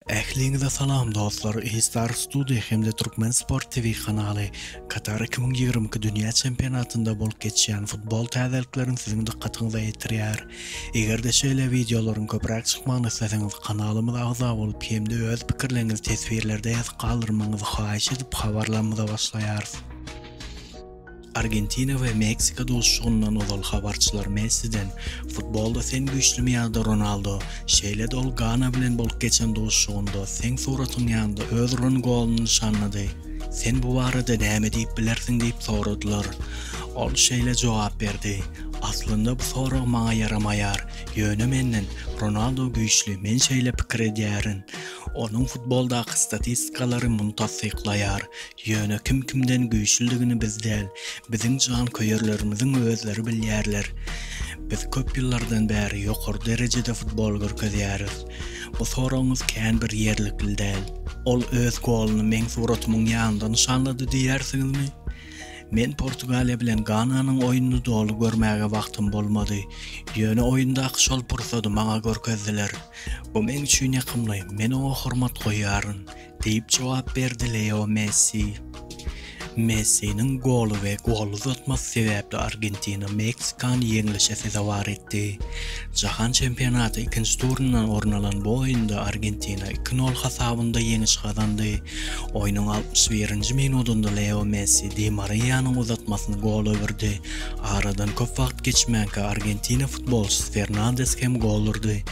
Ähliňize salam dostlar Eistar Studio hem-de Türkmen Sport TV kanaly Katar iki müň ýigrimi iki dünýä çempionatynda bolup geçýän futbol täzeliklerini siziň dykgatyňyza ýetirýär. Eger-de şeýle wideolaryň köpräk çykmagyny isleseňiz kanalymyza agza bolup hem-de öz pikirleriňizi teswirlerde ýazyp galdyrmagyňyzy haýyş edip habarlarymyza başlaýarys. Argentina we Meksika duşuşygyndan ozal habarçylar Messiden, Futbolda sen güýçlümi ýa-da Ronaldo, şeýle-de ol Gana bilen bolup geçen duşuşygynda seň suratyň ýanynda öz uran goluny nyşanlady. Sen bu barada näme diýip bilersiň diýip soradylar. Ol şeýle jogap berdi, Aslynda bu sorag maňa ýaramaýar, ýöne menden Ronaldo güýçli, men şeýle pikir edýärin. Onuň futboldaky statistikalary muny tassyklaýar. Ýöne kim kimden güýçlüdigini biz däl, biziň janköýerlerimiziň özleri bilýärler. Biz köp ýyllardan bäri ýokary derejede futbol görkezýäris. Bu soragyňyz kän bir ýerlikli däl. Ol öz goluny meň suratymyň ýanynda nyşanlady diýýärsiňizmi? Men Portugaliýa bilen Gananyň oýnuny doly görmäge wagtym bolmady. Ýöne oýundaky şol pursady maňa görkezdiler. Bu meň üçin ýakymly, men oňa hormat goýýaryn. diýip jogap berdi Leo Messi. Messiniň goly we gol uzatmasy sebäpli Argentina Meksikany ýeňlişe sezewar etdi. Jahan çempionaty ikinji turyndan orun alan bu oýunda Argentina iki nol hasabynda ýeňiş gazandy. Oýnuň altmyş birinji minudynda Leo Messi Di Mariýanyň uzatmasyny gol öwürdi. Aradan köp wagt geçmänkä Argentina futbolçysy Fernandes hem gol urdy.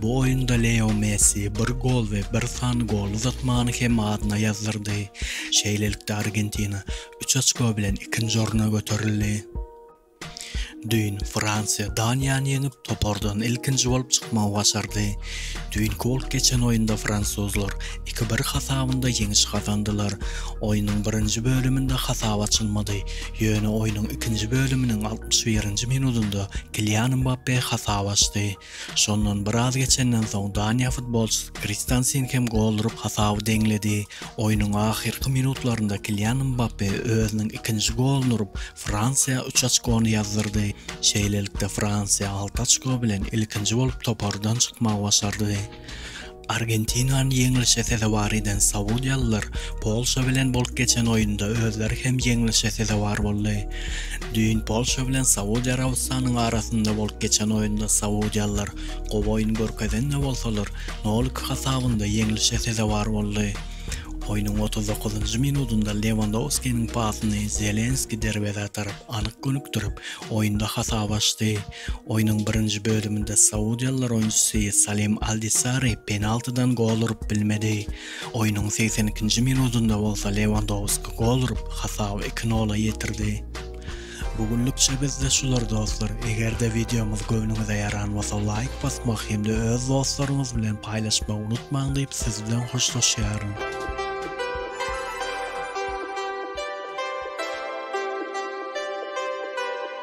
Bu oýunda Leo Messi bir gol we bir sany gol uzatmany hem adyna ýazdyrdy. Şeýlelikde Argentina üç oçko bilen ikinji orna göterildi. Düýn Fransiýa Daniýany ýeňip, topardan ilkinji bolup çykmagy başardy. Düýnki bolup geçen oýunda fransuzlar iki-bir hasabynda ýeňiş gazandylar. Oýnuň birinji bölüminde hasap açylmady, ýöne oýnuň ikinji bölüminiň altmyş birinji minudynda Kilian Mbappe hasap açdy. Şondan biraz geçenden soň Daniýa futbolçysy Kristensen hem gol urup hasaby deňledi. Oýnuň ahyrky minutlarynda Kilian Mbappe özüniň ikinji goluny urup, Fransiýa üç oçkony ýazdyrdy. Şeýlelikde Fransiýa alty oçko bilen ilkinji bolup topardan çykmagy başardy. Argentinany ýeňlişe sezewar eden saudiýalylar Polşa bilen bolup geçen oýunda özleri hem ýeňlişe sezewar boldy. Düýn Polşa bilen Saudiýa Arabystanynyň arasynda bolup geçen oýunda saudiýalylar gowy oýun görkezen-de bolsalar, nolik hasabynda ýeňlişe sezewar boldy. Oýnuň otuz dokuzynjy minudynda Lewandowskiniň pasyny Zelenski derwezä tarap anyk gönükdirip, oýunda hasap açdy. Oýnuň birinji bölüminde saudiýalylar oýunçysy Salim Aldisari penaltydan gol urup bilmedi. Oýnuň segsen ikinji minudynda bolsa Lewandowski gol urup, hasaby iki-nola ýetirdi. Bu günlükçe bizde şular dostlar. Eger-de wideomyz göwnüňize ýaran bolsa laýk basmak hem-de öz dostlaryňyz bilen paýlaşmagy unutmaň diýip siz bilen hoşlaşýaryn.